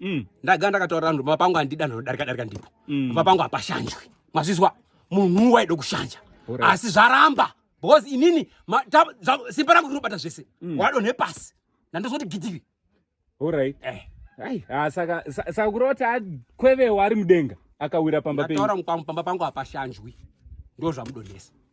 mm. ndaga ndakataurira vanhu baba pangu handida ndodarika darika ndipo mm. baba pangu hapashanjwe mazvizwa munhu waida kushanja asi zvaramba because inini simba rangu rinobata zvese mm. wadonhe pasi nandozoti gidiri orit eh. ah, saka saka kurota akwevewa ari mudenga akawira pamba penyu pamba pangu hapashanjwi ndozvamudonhesa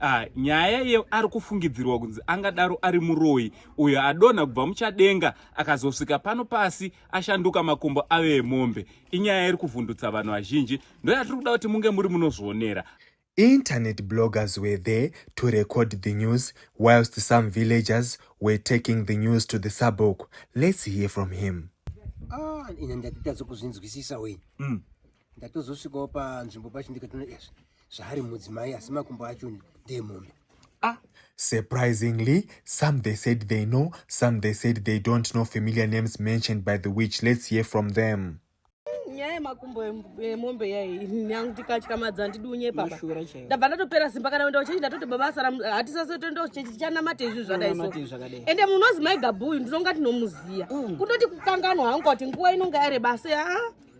Ah, nyaya iye ari kufungidzirwa kunzi angadaro ari muroyi uyo adonha kubva muchadenga akazosvika pano pasi ashanduka makumbo ave emombe inyaya iri kuvhundutsa vanhu vazhinji ndoyatiri kuda kuti munge muri munozvionera Internet bloggers were there to record the news whilst some villagers were taking the news to the suburb. Let's hear from him. Ah, ine ndatita zokuzvinzwisisa wei. Mm. ndatozosvikawo panzvimbo pachindikatino ezvi zvaari mudzimai asi makumbo acho ndeemombe ah Surprisingly, some they said they know, some they said they don't know familiar names mentioned by the witch. Let's hear from them. nyaya yemakumbo emombe yai nyangu ndikatyamadza ndidi unyepa ndabva ndatopera simba kana kuenda kuchechi ndatoti baba asara hatisase toenda kuchechi tichanamata izvi zvadaiso ende munozi mai gabuyu ndinonga tinomuziya mm. kundoti kukanganwa hangu kuti nguva inonga yareba se aa ah,